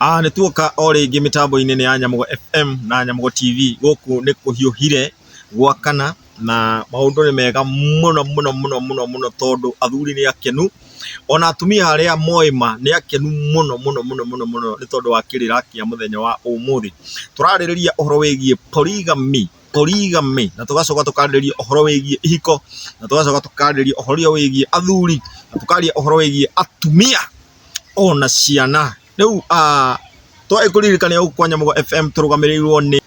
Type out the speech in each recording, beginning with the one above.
Ah, nĩ tuoka o rĩngĩ mĩtambo-inĩ nĩ ya Nyamũgo FM na Nyamũgo TV gũkũ nĩ kũhiũhire gwakana na maũndũ nĩ mega mũno mũno mũno mũno mũno tondũ athuri nĩ akenu ona atumia arĩa moĩ ma nĩ akenu mũno mũno mũno mũno mũno nĩ tondũ wa kĩrĩra kĩa mũthenya wa ũmũthĩ. Tũrarĩrĩria ũhoro wĩgiĩ polygamy polygamy, na tũgacoka tũkarĩrĩria ũhoro wĩgiĩ ihiko, na tũgacoka tũkarĩrĩria ũhoro wĩgiĩ athuri, na tũkaria ũhoro wĩgiĩ atumia ona ciana. Rĩu twĩ kũririkania gũkũ kwa Nyamũgo FM tũrũgamĩrĩirwo nĩ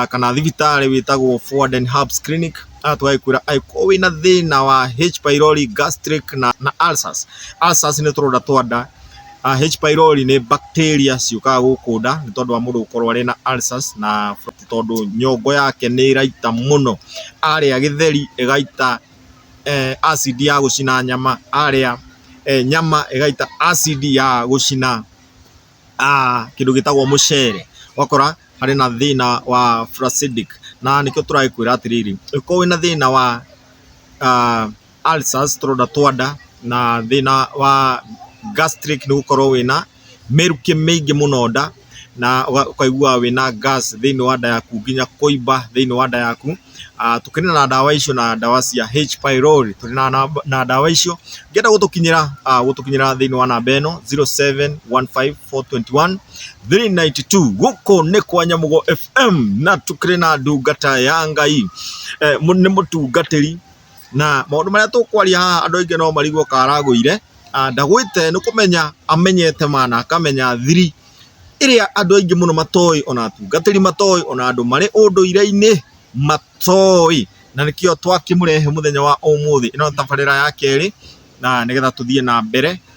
kana thibitarĩ wĩtagwo Fountain Herbs Clinic, na tũgagĩkwĩra angĩkorwo wĩna thĩna wa H pylori, gastric na ulcers. Ulcers nĩ tũronda twa nda, H pylori nĩ bacteria ciũkaga gũkũ nda nĩ tondũ wa mũndũ gũkorwo arĩ na ulcers na... mũthamaki tondũ nyongo yake nĩ ĩraita mũno, arĩa gĩtheri ĩgaita acid ya gũcina nyama, arĩa nyama ĩgaita acid ya gũcina kĩndũ gĩtagwo mũcere, ũgakora harĩ na thĩna wa flacidic na nĩkĩo tũrakwĩra atĩrĩrĩ, ũngĩkorwo wĩna thĩna wa ulcers, tũronda twa nda na thĩna wa gastric nĩ gũkorwo wĩna mĩrukĩ mĩingĩ mũno nda na ũkaigua wĩna gas thĩinĩ wa nda yaku nginya kũimba thĩinĩ wa nda yaku. Tũkĩrĩ na ndawa icio na ndawa cia H pylori tũrĩ na ndawa icio. Ũngĩenda gũtũkinyĩra gũtũkinyĩra thĩinĩ wa namba ĩno zero seven one five four twenty one three ninety two. Gũkũ nĩ kwa Nyamũgũ FM na tũkĩrĩ na ndungata ya Ngai, nĩ mũtungatĩri. Na maũndũ marĩa tũkwaria haha andũ aingĩ no marigwo karagũire, ndagwĩte nĩ kũmenya amenyete ma na akamenya thiri ĩrĩa andũ aingĩ mũno matoĩ ona atungatĩri matoĩ ona andũ marĩ ũndũire-inĩ matoĩ. Na nĩkĩo twakĩmũrehe mũthenya wa ũmũthĩ, ĩno nĩ tabarĩra ya kerĩ na nĩgetha tũthiĩ na mbere.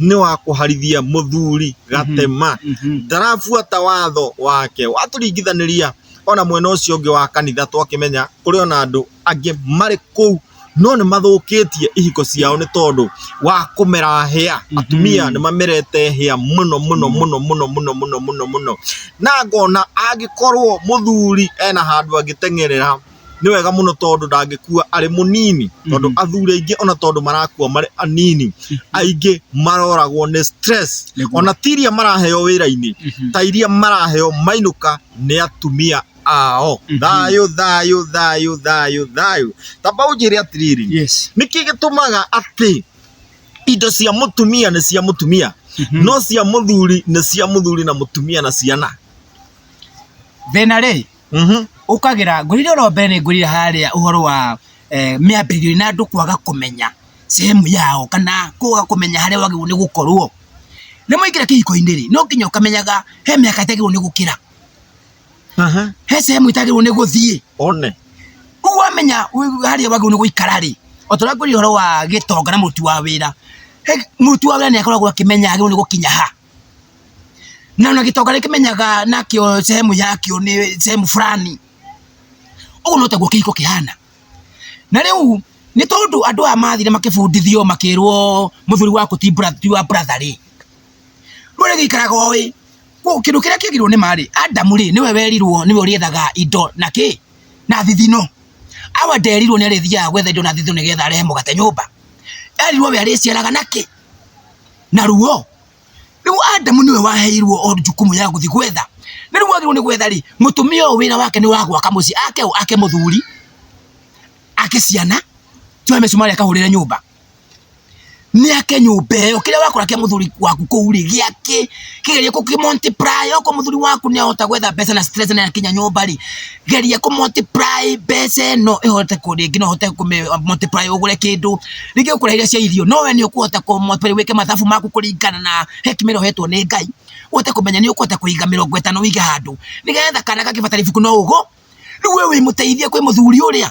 nĩ wa kũharithia mũthuri gatema ndarabuata watho wake watũringithanĩria ona mwena ũcio ũngĩ wa kanitha twakĩmenya kũrĩ ona andũ angĩ marĩ kũu no nĩ mathũkĩtie ihiko ciao nĩ tondũ wa kũmera hĩa atumia nĩ mamerete hĩa mũno mũno mũno mũno mũno mũno mũno mũno na ngona angĩkorwo mũthuri ena handũ angĩtengerera nĩ wega mũno tondũ ndangĩkua arĩ mũnini tondũ athuri aingĩ ona tondũ marakua marĩ anini aingĩ maroragwo nĩ stress Nĩguo. ona ti iria maraheo wĩra-inĩ ta iria maraheo mainũka nĩ atumia ao thayũ thayũ thayũ thayũ thayũ tamba ũnjĩre atĩrĩrĩ yes nĩkĩ gĩtũmaga atĩ indo cia mũtumia nĩ cia mũtumia no cia mũthuri nĩ cia mũthuri na mũtumia na ciana thĩna rĩ mhm. ũkagĩra ngũrire oro mbere nĩ ngũrire harĩa ũhoro wa eh, mĩambĩrĩrio na andũ kwaga kũmenya sehemu yao kana kwaga kũmenya harĩa wagĩrĩirwo nĩ gũkorwo nĩ mwaingĩra kĩhiko-inĩ rĩ no nginya ũkamenyaga he mĩaka ĩtagĩrĩirwo nĩ gũkĩra he sehemu ĩtagĩrĩirwo nĩ gũthiĩ one kũu wamenya harĩa wagĩrĩirwo nĩ gũikara rĩ o ta ũrĩa ngũrire ũhoro wa gĩtonga na mũruti wa wĩra mũruti wa wĩra nĩ akoragwo akĩmenya agĩrĩirwo nĩ gũkinya ha na ona gitonga rikimenyaga nakio sehemu yakio ni sehemu fulani uguo no taguo kihiko kihana na riu ni tondu andu aya mathire makibundithio makirwo muthuri waku ti brother ti wa brother ri rwere gikaraga oi ko kindu kiria kiagirwo ni mari adamu ri niwe werirwo niwe uriethaga indo na ki na thithino awa nderirwo ni arithiaga gwetha indo na thithino nigetha arehe mugate nyumba erirwo we ariciaraga na ki na ruo riu Adamu niwe waheirwo o jukumu ya guthi gwetha na riu agirwo ni gwetha ri mutumia uyu wira wake ni wa gwaka mucii ake u ake muthuri ake ciana tuwe mecumari akahurire nyumba ni ake nyumba iyo kiria wakora kia muthuri waku kuu ri giake kigerie kuki multiply oko muthuri waku ni ahota gwetha mbeca na stress na akinya nyumba ri geria kũ multiply mbeca ĩno ĩhote kũ rĩngĩ no ũhote kũ multiply ũgũre kĩndũ rĩngĩ ũkũra iria cia irio no we nĩ ũkũhota kũ multiply wĩke mathabu maku kũringana na hekima ĩrĩa ũhetwo nĩ Ngai ũhote kũmenya nĩ ũkũhota kũiga mĩrongo ĩtano wĩige handũ nĩgetha kana gagĩbatara ibuku no ũgũ rĩu we wĩmũteithie kwĩ mũthuri ũrĩa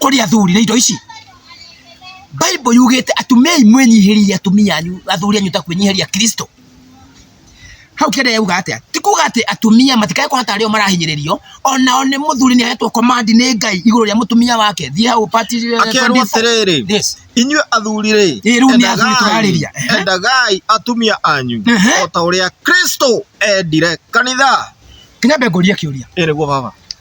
kũrĩ athuri nĩ indo ici Bible yugĩte atumia mwĩnyihĩrie atumia anyu athuri anyu ta kwĩnyihĩria Kristo hau kĩrĩa yauga atĩa ti kuga atĩ atumia matikae kuona tarĩ o marahinyĩrĩrio onao nĩ mũthuri nĩ ahetwo command nĩ Ngai igũrũ rĩa mũtumia wake thiĩ hau part akerwo atĩrĩrĩ yes inyuĩ athuri rĩ Ĩ, rĩu nĩ athuri tũrarĩria. Ehe. endagai atumia anyu Ehe. o ta ũrĩa Kristo endire kanitha kĩnyambe ngũria kĩũria ĩrĩguo baba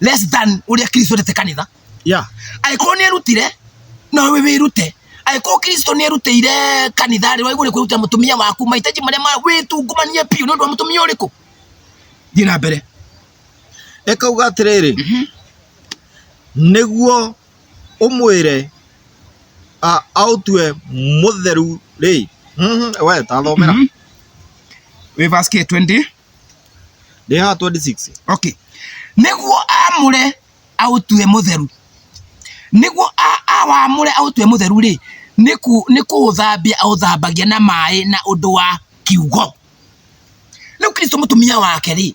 less than uria kristo ndete kanitha yeah angĩkorwo nĩ erutire na we wĩrute angĩkorwo kristo nĩ erutĩire kanitha rĩ waigũ nĩ kwĩrutĩra mũtumia waku mahitaji marĩa ma wĩtungumanie biũ nĩ ũndũ wa mũtumia ũrĩkũ thiĩ na mbere ekauga atĩrĩrĩ Mhm. nĩguo ũmwĩre a- aũtue mũtheru rĩ Mhm, we tathomera Mhm. wĩ verse K20 Ndĩ haha 26. okay nĩguo amũre aũtue mũtheru nĩguo a- awamũre aũtue mũtheru rĩ nĩku- nĩ kũũthambia aũthambagia na maĩ na ũndũ wa kiugo rĩu kristo mũtumia wake rĩ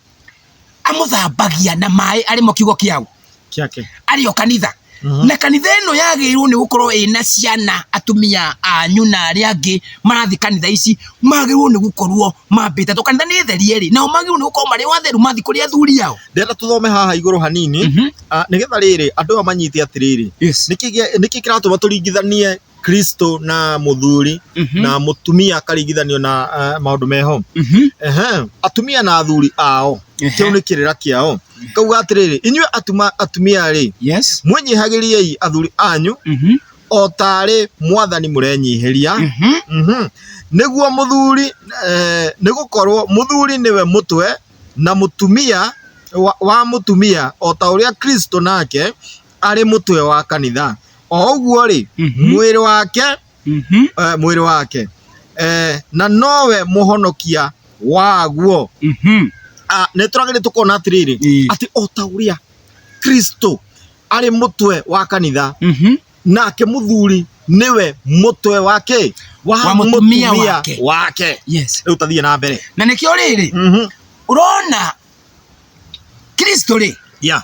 amũthambagia na maĩ arĩmo kiugo kĩaũ Kĩake. arĩ o kanitha Mhm. na kanitha ĩno yagĩrĩirwo nĩ gũkorwo ĩna ciana atumia anyu na arĩa angĩ marathi kanitha ici magĩrĩirwo nĩ gũkorwo mambĩte tondũ kanitha nĩ therie rĩ nao magĩrĩirwo nĩ gũkorwo marĩ o atheru mathi kũrĩ athuri yao Ndĩrenda tũthome haha igũrũ hanini. Mhm. Ah, Nĩgetha rĩrĩ, andũ aya manyite atĩrĩrĩ. Yes. Nĩkĩ gĩa- nĩkĩ kĩratũma tũringithanie Kristo na mũthuri Mhm. na mũtumia akaringithanio na uh, maũndũ meho Mhm. Ehe, atumia na athuri ao Ehe. kĩu nĩ kĩrĩra kĩao kauga atĩrĩrĩ inyuĩ atuma- atumia rĩ Yes. mwĩnyihagĩriei athuri anyu Mhm. o tarĩ mwathani mũrenyihĩria Mhm. Mhm. nĩguo mũthuri eh, nĩ gũkorwo mũthuri nĩwe mũtwe na mũtumia wa, wa mũtumia o ta ũrĩa kristo nake arĩ mũtwe wa kanitha o ũguo rĩ Mhm. mwĩrĩ wake Mhm. eh, mwĩrĩ wake eh, na nowe mũhonokia waguo Mhm. Ah, nĩ tũragĩrĩ tũkona atĩrĩrĩ Ĩĩ. atĩ o ta ũrĩa kristo arĩ mũtwe wa kanitha Mhm. nake mũthuri nĩwe mũtwe wake wa, Wa mũtumia mũtumia wake. wake Yes. rĩu tathiĩ na mbere na nĩkĩo rĩrĩ Mhm. ũrona kristo rĩ ya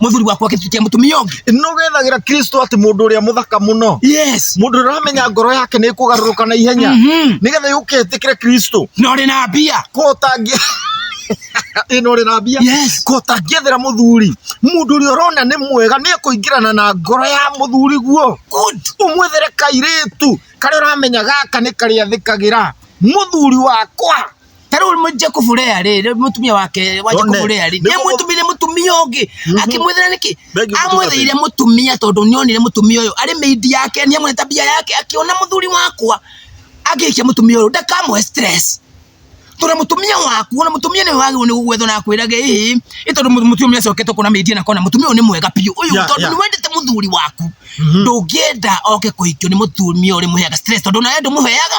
muthuri waku akifikia mutumia ungi no gethagira kristo ati mundu uria muthaka muno yes mundu uramenya ngoro yake ni kugaruruka na ihenya Mhm. nigetha yuke tikire kristo no ri na mbia ko tangi ino ri na mbia yes ko tangiethera muthuri mundu uria urona ni mwega ni kuingirana na ngoro ya muthuri guo good umwethere kairitu karia uramenya gaka ni karia thikagira muthuri wakwa ta rĩu mũ- Jacob Lea rĩ rĩ- mũtumia wake wa Jacob One. Lea rĩ Nĩ mũgũ- nĩamwĩtumire mũtumia ũngĩ akĩmwĩthĩra nĩkĩ Bengi mũtungata amwĩthĩire ĩyo. mũtumia tondũ nĩonire mũtumia ũyũ arĩ mĩindi yake nĩamwĩra tabia yake akĩona mũthuri wakwa agĩikia mũtumia ũyũ ndakamũhe stress tondũ mũtumia waku ona mũtumia nĩ wagĩrĩirwo nĩ gũgwethwo na akwĩrage ĩĩ ĩ tondũ mũ- mũtumia acokete kuona mĩindi na kona mũtumia ũyũ nĩ mwega biũ ũyũ Yeah, tondũ yeah. nĩ wendete mũthuri waku ndũngĩenda oke kũhikio nĩ mũtumia ũrĩ mũheaga stress tondũ nawe ndũmũheaga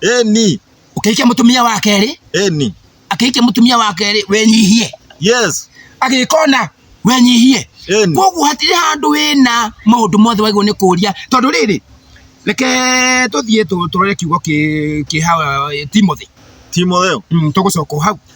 Eni. Ũkĩhikia mũtumia wa kerĩ. Eni. Akĩhikia mũtumia wa kerĩ wenyihie. Yes. Agĩkona wenyihie. Eni. Koguo hatirĩ handũ wĩna maũndũ mothe wagĩrĩirwo nĩ kũria tondũ rĩrĩ reke tũthiĩ tũrore kiugo kĩ kĩ hawa Timothy. Timotheo. Mm, tũgũcoka hau.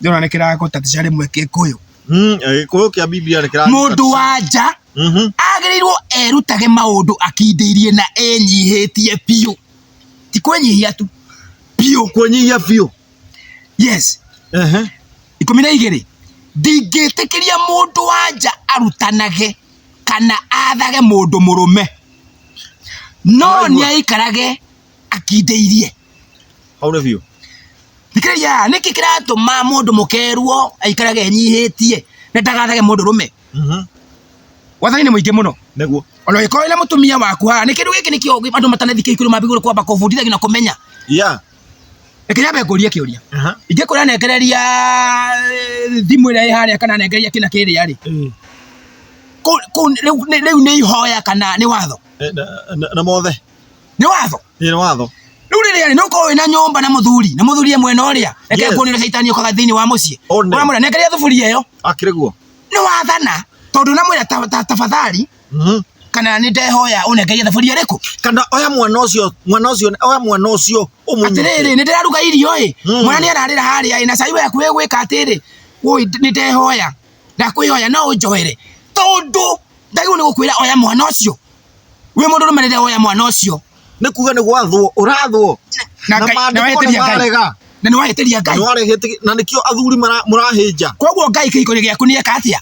ndĩrona nĩ kĩragũtatisha rĩmwe gĩkũyũ Mm, eh, gĩkũyũ kĩa bibilia nĩ kĩra mũndũ wa nja Mhm. agĩrĩirwo erutage maũndũ akindĩirie na enyihĩtie biũ ti kwenyihia tu biũ kũnyihia biũ yes Ehe. ikũmi na igĩrĩ ndingĩtĩkĩria mũndũ wa nja arutanage kana athage mũndũ mũrũme no Waigua. nĩaikarage akindĩirie hau nĩ biũ thikĩrĩria haha nĩkĩ kĩratũma mũndũ mũkerwo aikarage enyihĩtie na ndagathage mũndũ rũme wathani nĩ mũingĩ mũno nĩguo ona ũgĩkorwo na mũtumia waku haha nĩ kĩndũ gĩkĩ nĩkĩo ũgĩ- andũ matanathikia ikũrũ mambigũrũ kwamba kũbundithagio na kũmenya ya reke nyambe ngũrie kĩũria ingĩkũra nengereria eh, thimũ ĩrĩa ĩ harĩa kana nengereria kĩna kĩrĩa rĩ kũ- kũ- rĩu nĩ- rĩu nĩ ihoya kana nĩ watho na mothe nĩ watho Ĩ nĩ watho. rĩu rĩrĩa rĩ nĩũkorwo wĩna nyũmba na mũthuri na mũthuri e mwena ũrĩa reke Yes. kuonera caitani ũkaga thĩinĩ wa mũciĩ One. ũramwĩra nengeria thuburia ĩyo Akĩrĩ guo. nĩ wathana tondũ namwĩra ta- ta- tafadhali Mhm. kana nĩ ndehoya ũnengeria thaburia ĩrĩkũ Kana oya mwana ũcio, mwana ũcio, oya mwana ũcio ũmũnyite. atĩrĩrĩ nĩ ndĩraruga irio ĩ Mm. mwana nĩ ararĩra harĩa ĩ na cai waku wĩ gwĩka atĩrĩ "Wũi, nĩ ndehoya ndakwĩhoya no ũnjoere tondũ ndagĩrĩirwo nĩ gũkwĩra oya mwana ũcio wĩ mũndũ rũme rĩrĩa woya mwana ũcio nĩ kuga nĩ gwathwo ũrathwo na Na Ngai- na maandĩko weheteria nĩ Ngai. marega. na nĩ waheteria ngai nĩwarehete na nĩkĩo athuri mara- mũrahĩnja koguo ngai kĩhiko gĩaku nĩ eka atĩa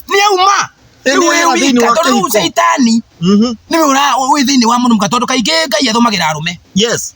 nĩ auma Ĩ, nĩ auma thĩinĩ wa tondũ rĩu kĩhiko. caitani Mhm. nĩwe ũra- wĩ thĩinĩ wa mũnumka tondũ kaingĩ ngai athũmagĩra arũme yes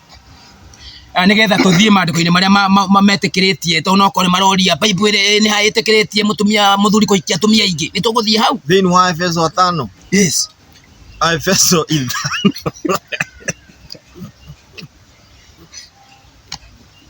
Ah, nigetha tuthie mandiko-ini maria ma- ma- ma- metikiritie to no kore maroria baibu iri ni ha itikiritie mutumia muthuri kuikia atumia ingi ni tuguthie hau thĩinĩ wa efeso atano yes efeso ithano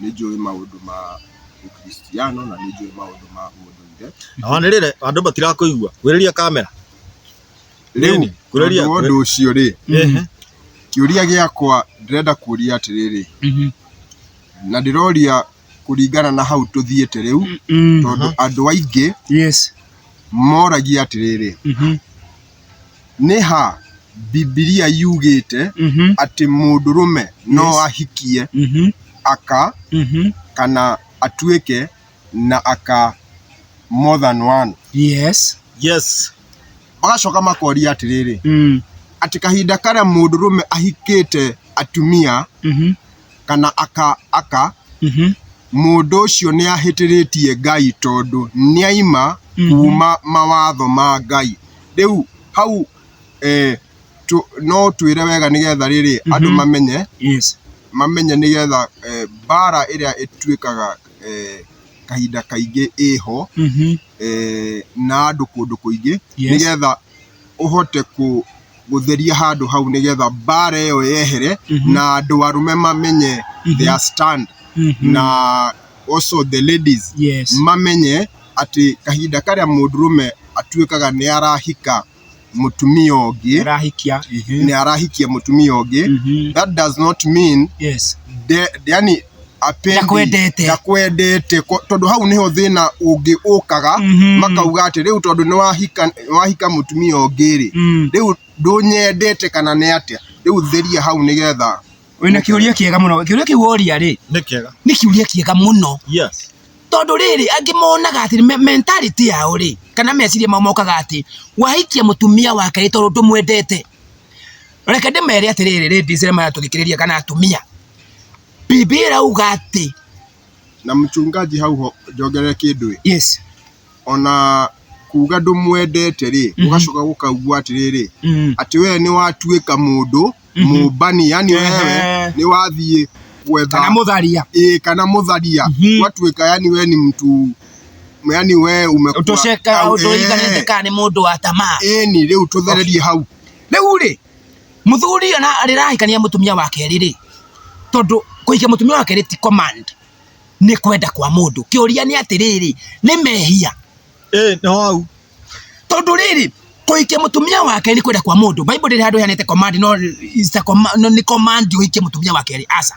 nĩ njũĩ maũndũ ma ũkristiano na nĩ njũĩ maũndũ ma ũndũire Wanĩrĩre andũ matirakũigua. Kuhĩrĩria kamera. rĩu Nini, kuhĩrĩria- tondũ wa ũndũ ũcio rĩ Ehe. kĩũria gĩakwa ndĩrenda kuria atĩrĩrĩ na ndĩroria kũringana na hau tũthiĩte rĩu tondũ andũ aingĩ Yes. moragia atĩrĩrĩ Nĩ ha Bibilia yugĩte Mhm. atĩ mũndũrũme no Yes. ahikie Mhm. aka Mhm. kana atuĩke na aka more than one? Yes. Yes. Magacoka makoria atĩrĩrĩ, Mm. atĩ kahinda karĩa mũndũrũme ahikĩte atumia Mhm. kana aka, aka Mhm. mũndũ ũcio nĩ ahĩtĩrĩtie Ngai tondũ nĩ aima kuma mawatho ma Ngai. Rĩu hau eh, tũ, no twĩre wega nĩgetha rĩrĩ andũ mamenye Yes. mamenye nĩgetha eh, mbara ĩrĩa ĩtuĩkaga eh, kahinda kaingĩ ĩho Mhm. eh, na andũ kũndũ kũingĩ Yes. nĩgetha ũhote kũ gũtheria handũ hau nĩgetha mbara ĩyo yehere na andũ arũme mamenye their stand na also the ladies Yes. mamenye atĩ kahinda karĩa mũndũrũme atuĩkaga nĩ arahika mũtumia ũngĩ Arahikia. nĩ arahikia mũtumia ũngĩ Mhm. that does not mean Yes. de, yani Apendi, Ndakwendete. ndakwendete Ko- tondũ hau nĩho thĩna ũngĩ ũkaga Mhm. makauga atĩ rĩu tondũ nĩ wahika wahika mũtumia ũngĩ rĩ Mm. rĩu ndũnyendete kana nĩ atĩa rĩu theria hau nĩgetha wĩna kĩũria kĩega mũno kĩũria kĩu woria rĩ nĩ kĩega nĩ kĩũria kĩega mũno yes tondå rä rä angä monaga atä me- mentality yao rä kana meciria mao mokaga atä wahikia må tumia wake rä tondå ndå mwendete reke ndä mere atä rä rä rä ndicä maya tå thikä rä ria kana atumia Bibilia irauga atĩ na mchungaji hau ho njongerere kĩndũ ĩ yes ona kuga ndũmwendete rĩ Mhm. ũgacoka gũkaugua atĩrĩrĩ mm. atĩ wee nĩ watuĩka mũndũ Mhm. mũmbani yani wewe Ehe. nĩ wathiĩ gwetha kana mũtharia ĩĩ kana mũtharia Mhm. watuĩka yani we ni mtu yani we umekuwa- ũtũceka Au, ũtũiganĩte eh, kana nĩ mũndũ wa tamaa ĩni rĩu tũthererie hau rĩu rĩ Mũthuri ona arĩrahikania mũtumia wa kerĩ rĩ, tondũ kũhikia mũtumia wa kerĩ ti command, nĩ kwenda kwa mũndũ. Kĩũria nĩ atĩrĩrĩ, nĩ mehia? Ĩĩ nĩ hau. Tondũ rĩrĩ, kũhikia mũtumia wa kerĩ nĩ kwenda kwa mũndũ, Bible ndĩrĩ handũ ĩheanĩte command no it's a command, no nĩ command ũhikie mũtumia wa kerĩ, aca.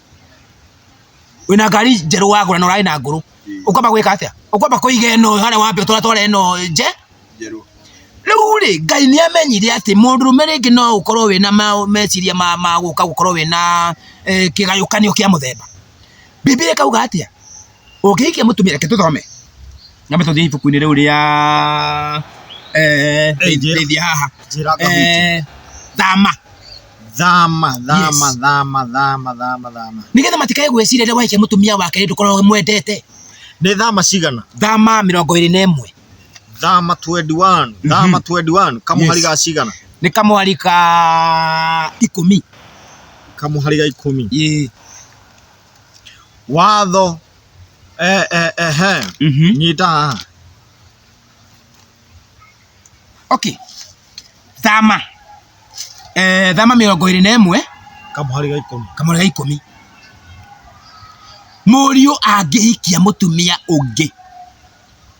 wina ngari njerũ wagũra na ũrarĩ na ngũrũ ũkwamba gwĩka atĩa ũkwamba kũiga ĩno harĩa wambe ũtwara twara ĩno nje rĩu rĩ ngai nĩ amenyire atĩ mũndũrũme rĩngĩ no ũkorwo wĩna meciria ma gũka gũkorwo wĩna eh, kĩgayũkanio kĩa mũthemba bibilia ĩkauga atĩa ũngĩhikia mũtumia reke tũthome nyambe tũthiĩ ibuku-inĩ rĩu rĩa eh, Eh, njĩra. rĩthia haha njĩra ngahuti Eh, thama thama thama Yes. thama thama thama thama nĩgetha matikae gwĩciria rĩrĩa wahikia mũtumia wake rĩndũ korwo mwendete nĩ thama cigana thama mĩrongo ĩrĩ na ĩmwe thama 21 thama 21 kamuhari Yes. ga cigana nĩ kamwari ka ikũmi kamuhari ga ikũmi Ĩĩ. Watho eh, eh, eh, eh. Mhm. nyita haha okay thama eh, thama mĩrongo ĩrĩ na ĩmwe kamũhari ga ikũmi kamũrĩ ga ikũmi mũriũ angĩhikia mũtumia ũngĩ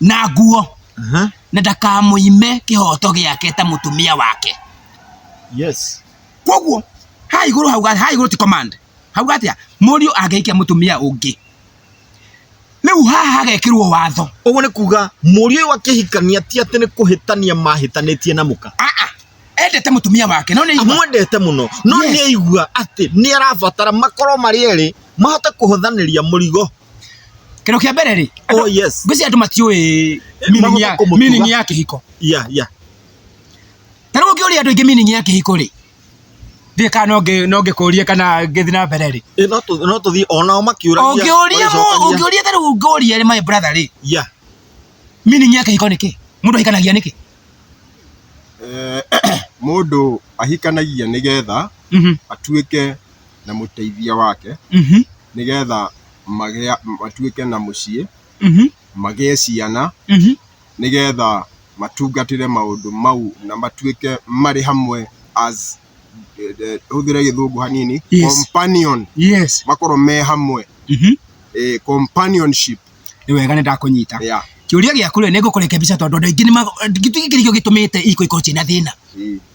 na nguo Aha. na ndakamũime kĩhoto gĩake ta mũtumia wake Yes. koguo ha igũrũ hau ga- ha igũrũ ti command hau gatia mũriũ angĩikia mũtumia ũngĩ rĩu haha hagekĩrwo watho Ũguo nĩ kuga mũriũ ũyũ akĩhikania ti atĩ nĩ kũhĩtania mahĩtanĩtie na mũka. aa endete mũtumia wake no nĩ igua Amwendete mũno no Yes. nĩ aigua atĩ nĩ arabatara makorwo marĩ erĩ mahote kũhũthanĩria mũrigo Kĩndũ kĩa mbere rĩ, Oh yes. ngwĩciria andũ matiũĩ meaning Magoka ya- kũmũtuga. meaning ya kĩhiko. Yeah, yeah. Ta rĩu ũngĩũria andũ aingĩ meaning ya kĩhiko rĩ, ndirĩ kana no ngĩ- no ngĩkũrie kana ngĩthiĩ na mbere rĩ. Eh, no tũ- no tũthiĩ o nao makĩũragia. Ũngĩũria mũ- magĩcokagia. ũngĩũria ta rĩu ngũria rĩ my brother rĩ, Yeah. meaning ya kĩhiko nĩ kĩ? Mũndũ ahikanagia nĩkĩ? Eh, mũndũ ahikanagia nĩgetha Mhm. atuĩke na mũteithia wake Mhm. nĩgetha magĩa matuĩke na mũciĩ Mhm. magĩe ciana Mhm. nĩgetha matungatĩre maũndũ mau na matuĩke marĩ hamwe as eh, eh, hũthĩre gĩthũngũ hanini Yes. companion Yes. makorwo me hamwe Mhm. eh, companionship Nĩ wega nĩ ndakũnyita. yeah. Kĩũria gĩaku rĩ nĩ ngũkũreke mbica tondũ andũ aingĩ nĩ tũgĩkĩrĩkio gĩtũmĩte iko ikorwo ciĩna thĩna. Eh,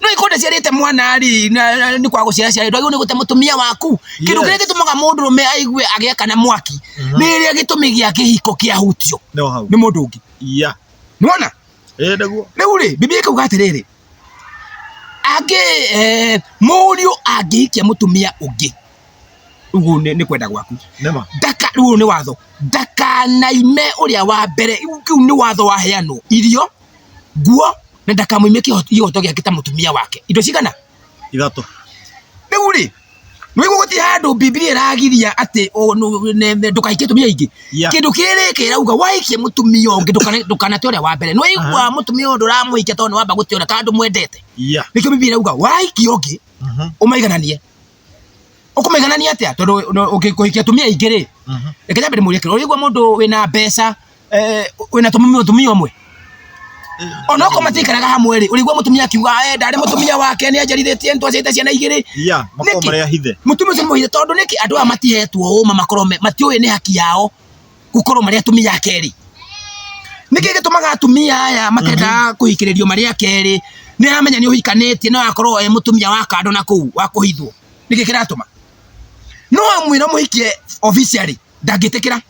no ikonde ciarite mwana ri ni kwa guciara ciarite agirwo ni gute mutumia waku kindu Yes. kiria gitumaga mundu rume aigue agiakana mwaki Mhm. ni ria gitumi gia kihiko kia hutio no hau ni mundu ungi ya nona eh naguo riu ri bibi ikauga atiriri angi eh, muriu angihikia mutumia ungi uguo ni ni kwenda gwaku nema ndaka rĩu nĩ watho ndakanaime ũrĩa wa mbere rĩu kĩu nĩ watho waheanwo irio nguo na ndakamuimie kihoto giake ta mutumia wake indo cigana ithatå riu ri nwigu guti handu bibilia iragiria ati ndukaikie tumia ingi Yeah. kindu kiri kirauga waikie mutumia ungi ndukana- ndukanate uria wa mbere nwiigua mutumia undu uramuikia tondu wamba guti uria tondu mwendete ya nikio bibilia irauga waikie ungi umaigananie ũkũmĩganania atĩa tondũ ũngĩkũhikia atumia aingĩ rĩ mhm. reke nyambe ndĩmũrie kĩrĩa ũrĩigua mũndũ wĩna mbeca eh, wĩna mũtumia ũmwe eh, ona okorwo matiikaraga hamwe rĩ ũrĩigua mũtumia akiuga eh, ndarĩ mũtumia wake nĩ anjarithĩtie nĩ twaciarĩte ciana igĩrĩ mũtumia ũcio nĩ mũhithe tondũ nĩkĩ andũ aya matihetwo ũma makorwo matiũĩ nĩ haki yao gukorwo maria atumia a keri niki gitumaga atumia aya makenda kuhikiririo maria keri ni aramenya ni uhikanitie no akorwo e mutumia wa kando na kuu wa kuhithwo niki kiratuma no amwira muhikie officially ndangitikira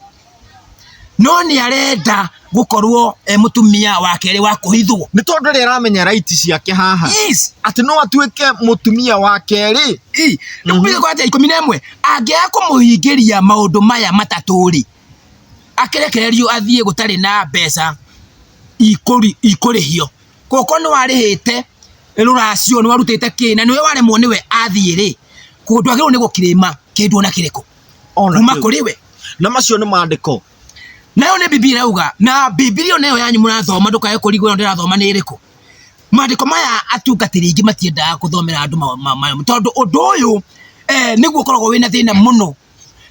no ni arenda gukorwo e mutumia wa keri wa kuhithwo nĩ tondũ rĩ aramenya raiti ciake haha yes atĩ no atuĩke mũtumia wa kerĩ i nikubiga kwa ikumi na imwe angĩaga kũmũhingĩria maũndũ maya matatũ-rĩ, akĩrekererio athiĩ gũtarĩ na mbeca ikũrĩhio. Koguo okorwo nĩ warĩhĩte rũracio, nĩ warutĩte kĩ, na nĩwe waremwo nĩwe athiĩ-rĩ, ndwagĩrĩirwo nĩ gũ claim kĩndũ ona kĩrĩkũ kuma kũrĩ we. Na macio nĩ mandĩko. nayo nĩ bibilia irauga na bibilia nayo yanyu mũrathoma ndũkae kũrigwo ĩyo ndĩrathoma nĩ ĩrĩkũ maandĩko maya atungatĩri aingĩ matiendaga gũthomera andũ mayo tondũ ũndũ ũyũ eh, nĩguo ũkoragwo wĩna thĩna mũno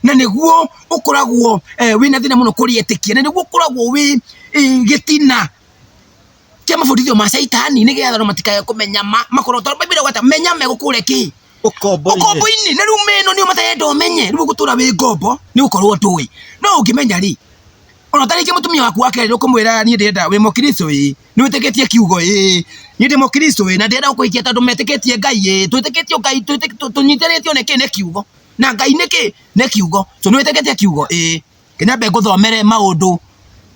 na nĩguo ũkoragwo eh, wĩna thĩna mũno kũrĩetĩkia na nĩguo ũkoragwo wĩ eh, gĩtina Tia mabundithio ma caitani nĩ getha andũ matikae kũmenya ma makorwo tondũ Bible ĩgweta menya megũkũre kĩ Ũkombo-inĩ. ũkombo-inĩ na rĩu mĩno nĩyo matarenda ũmenye rĩu gũtũra wĩ ngombo nĩ gũkorwo ndũĩ no ũngĩmenya rĩ ona ta rĩngĩ mũtumia waku wa kerĩ ũkũmwĩra niĩ ndĩrenda wĩ mũkristo ĩ nĩ wĩtĩkĩtie kiugo ĩ niĩ ndĩ mũkristo ĩ na ndĩrenda gũkũhikia tondũ metĩkĩtie ngai ĩ twĩtĩkĩtio ngai twĩtĩ- tũ- tũnyitĩrĩtio nĩ kĩ nĩ kiugo na ngai nĩ kĩ nĩ kiugo so nĩ wĩtĩkĩtie kiugo ĩ Ke nyambe ngũthomere maũndũ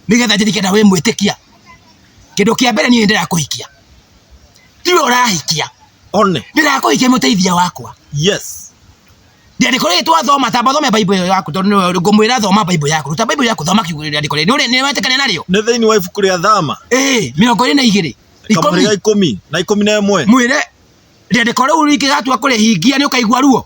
nĩgetha njĩtĩkie na wĩ mwĩtĩkia. Kĩndũ kĩa mbere niĩ nĩndĩra kũhikia. Tiwe ũrahikia. One. Ndĩra kũhikia mũteithia wakwa. Yes. Ndĩandĩko rĩrĩ twathoma tamba thome Bible ĩyo yaku tondũ nĩwe ngũmwĩra thoma Bible yaku. Ruta Bible yaku thoma kiugo rĩrĩ andĩko rĩrĩ. Nĩ wetĩkania narĩo? Nĩ thĩinĩ wa ibuku rĩa Thama. Ĩĩ, mĩrongo ĩrĩ na igĩrĩ. Kamũrĩ ga ikũmi na ikũmi na ĩmwe. Mwĩre rĩandĩko rĩu rĩngĩgatua kũrĩhingia nĩ ũkaigua ruo.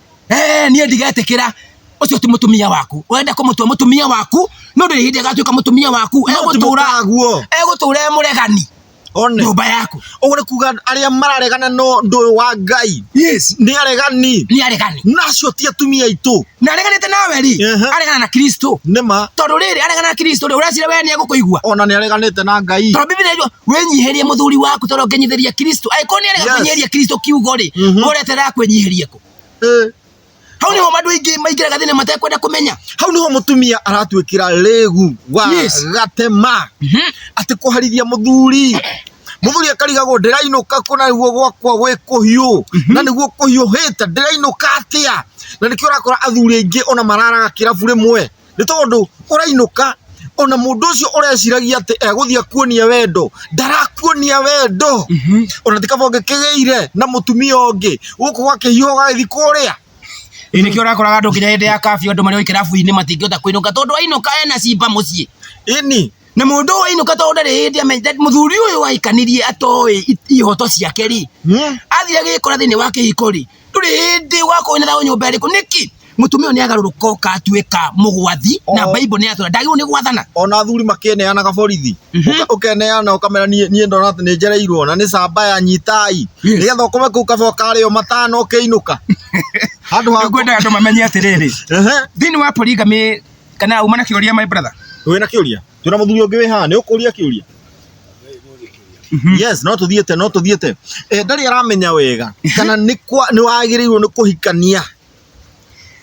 eh niĩ ndigetĩkĩra ucio ti mutumia waku urenda kumutua mutumia waku no ndiri hindi agatuika mutumia waku egutura guo egutura muregani one nyumba yaku ugure kuga aria mararegana no ndu wa ngai yes ni aregani ni aregani nacio ti atumia itu na areganite nawe ri aregana na kristo nima tondu riri aregana na kristo ri uracira we ni egukuigua ona ni areganite na ngai tondu bibi ni wĩnyihĩrie mũthuri waku tondũ ngenyithĩria Kristo angĩkorwo nĩ arega Yes. kwenyeria Kristo kiugo rĩ Mhm. ũretera kwenyihiria kũ Eh, hau nĩho andũ aingĩ maingĩraga thĩna matekwenda kũmenya hau nĩho mũtumia aratuĩkĩra rĩgu wa Yes. gatema Mhm. atĩ kũharithia mũthuri mũthuri akarigagwo ndĩrainũka kũ na nĩguo gwakwa gwĩ kũhiũ na nĩguo kũhiũhĩte ndĩrainũka atĩa na nĩkĩo ũrakora athuri aingĩ ona mararaga kĩrabu rĩmwe nĩ tondũ ũrainũka ona mũndũ ũcio ũreciragia atĩ egũthiĩ akuonie wendo ndarakuonia wendo Mhm. ona ti kaba ũngĩkĩgĩire na mũtumia ũngĩ gũkũ gwakĩhiũha ũgagĩthiĩ kũrĩa Ĩ nĩkĩo ũrakoraga andũ nginya hĩndĩ ya kabiũ andũ marĩ o ikĩrabu-inĩ matingĩhota kũinũka tondũ ainũka ena cimba mũciĩ ini na mũndũ ũyũ ainũka tondũ ndarĩ hĩndĩ amenyete mũthuri ũyũ aikanirie atoĩ i- ihoto ciake rĩ athire gĩkora thĩinĩ wa kĩhiko rĩ ndũrĩ hĩndĩ wakorwo wĩna thayũ nyũmba ĩrĩkũ nĩkĩ mũtumia ũyũ nĩagarũrũka oka atuĩka mũgwathi na Oh. bible nĩyatwĩra ndagĩrĩirwo nĩ gwathana ona athuri makĩneanaga borithi Mhm. Ũka- ũkeneana ũkamera niĩ niĩ ndona atĩ nĩ njereirwo na nĩ camba ya nyitai Yes. nĩgetha ũkome kũu kaba ũkarĩo matano ũkĩinũka handũ ha ngwendaga andũ mamenye atĩrĩrĩ Ehe. thĩinĩ wa polygamy kana uma na kĩũria my brother wĩna kĩũria twina muthuri ungi wi haha ni ukuria kiuria yes no tuthiete no tuthiete eh ndari aramenya wega kana ni kwa ni wagirirwo ni kuhikania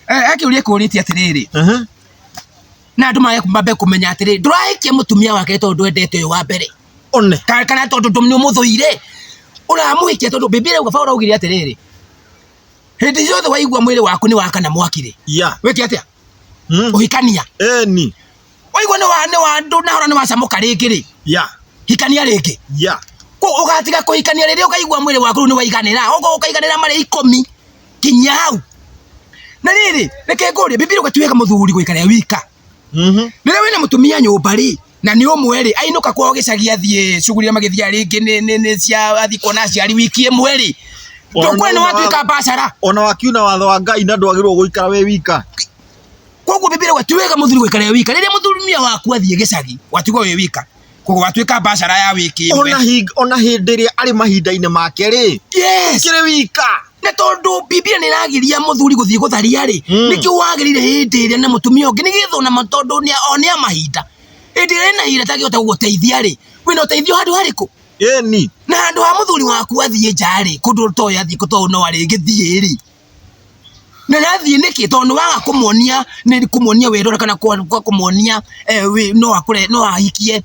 Eh, akiuria kũrĩtie atĩrĩrĩ ehe na andũ mage mambe kũmenya atĩrĩrĩ ndũrahikia mũtumia wake tondũ endete ũyũ wa mbere one Ka- kana tondũ ndũ- nĩ ũmũthũire ũramũhikia tondũ bibilia uga Paulo augire atĩrĩrĩ hĩndĩ ciothe waigua mwĩrĩ waku nĩ wakana mwakire ya wĩke atĩa Mm. ũhikania Eni. waigua nĩ wa nĩ wa ndũ nahora nĩ wacamũka rĩngĩ rĩ Ya. hikania rĩngĩ Ya. Kũ- ũgatiga kũhikania rĩrĩa ũkaigua mwĩrĩ waku rĩu nĩ waiganĩra ũgo ũkaiganĩra marĩ ikũmi kinya hau na rĩrĩ reke ngũrie bibi ũgatuĩka mũthuri gũikarĩa wika Mhm. rĩrĩa wĩna mũtumia nyũmba rĩ na nĩ ũmwe rĩ ainũka kwao gĩcagi athiĩ cugurira magĩthiaga rĩngĩ nĩ nĩ nĩ cia athiĩ kuona aciari wiki ĩmwe rĩ Ona ndũkwĩra nĩ no watuĩka wa- mbacara ona wakiuna watho wa ngai na ndwagĩrĩirwo gũikara wĩ wika koguo bibiri wa ti wega mũthuri gũikara wĩ wika rĩrĩa mũthurumia waku athiĩ gĩcagi watigwo wĩ wika koguo watuĩka mbacara ya wiki ona ĩmwe hing- ona hĩndĩ ĩrĩa arĩ mahinda-inĩ make rĩ yes kĩrĩ wika na tondu bibilia ni ragiria muthuri guthii gutharia ri mm. nikio wagirire hindi ria na mutumia ungi nigetha na tondu ni one amahinda hindi ria na hira tagihota guguteithia ri wina uteithio handu hariku ni na handu ha muthuri waku athie nja ri kundu to yathie kuto no ari ngithie ri na nathie niki tondu waga kumuonia ni kumuonia wirora kana kwa kumuonia eh, no akure no ahikie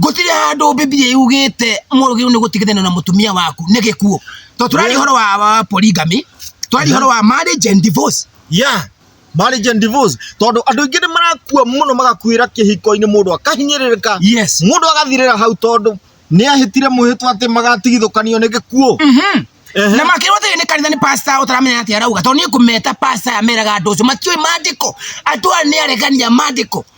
gũtirĩ handũ bibilia yugĩte mũgĩrĩirwo nĩ gũtigithana na mũtumia waku nĩ gĩkuũ to tũrarĩ horo wa, wa polygamy tũrarĩ horo wa marriage and divorce yeah marriage and divorce tondũ andũ aingĩ nĩ marakua mũno magakuĩra kĩhiko-inĩ mũndũ akahinyĩrĩrĩka yes mũndũ agathirĩra hau tondũ nĩ ahĩtire mwĩhĩtwa atĩ magatigithũkanio nĩ gĩkuũ Mhm. Ehe. na makĩrwo thĩinĩ nĩ kanitha nĩ pasta ũtaramenya atĩ arauga tondũ niĩ kũmeta pasta ameraga andũ ũcio matiũĩ mandĩko andũ aya nĩ aregania mandĩko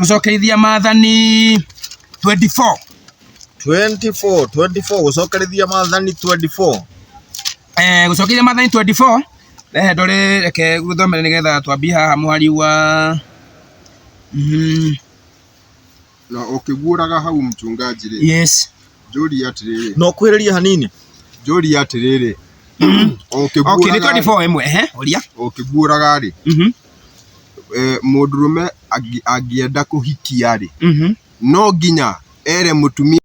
gucokerithia maathani 24 24 24 gucokerithia maathani 24 eh gucokerithia maathani 24 rehe ndore reke guthomere nigetha twambie haha muhari wa mm, na ũkĩguũraga hau mchungaji rĩ yes njũria atĩrĩrĩ no kwĩrĩria hanini njũria atĩrĩrĩ okay nĩ ũkĩguũraga 24 ĩmwe ehe uria ũkĩguũraga rĩ mhm mũndũrũme angĩenda kũhikia rĩ, mhm. no nginya ere mũtumia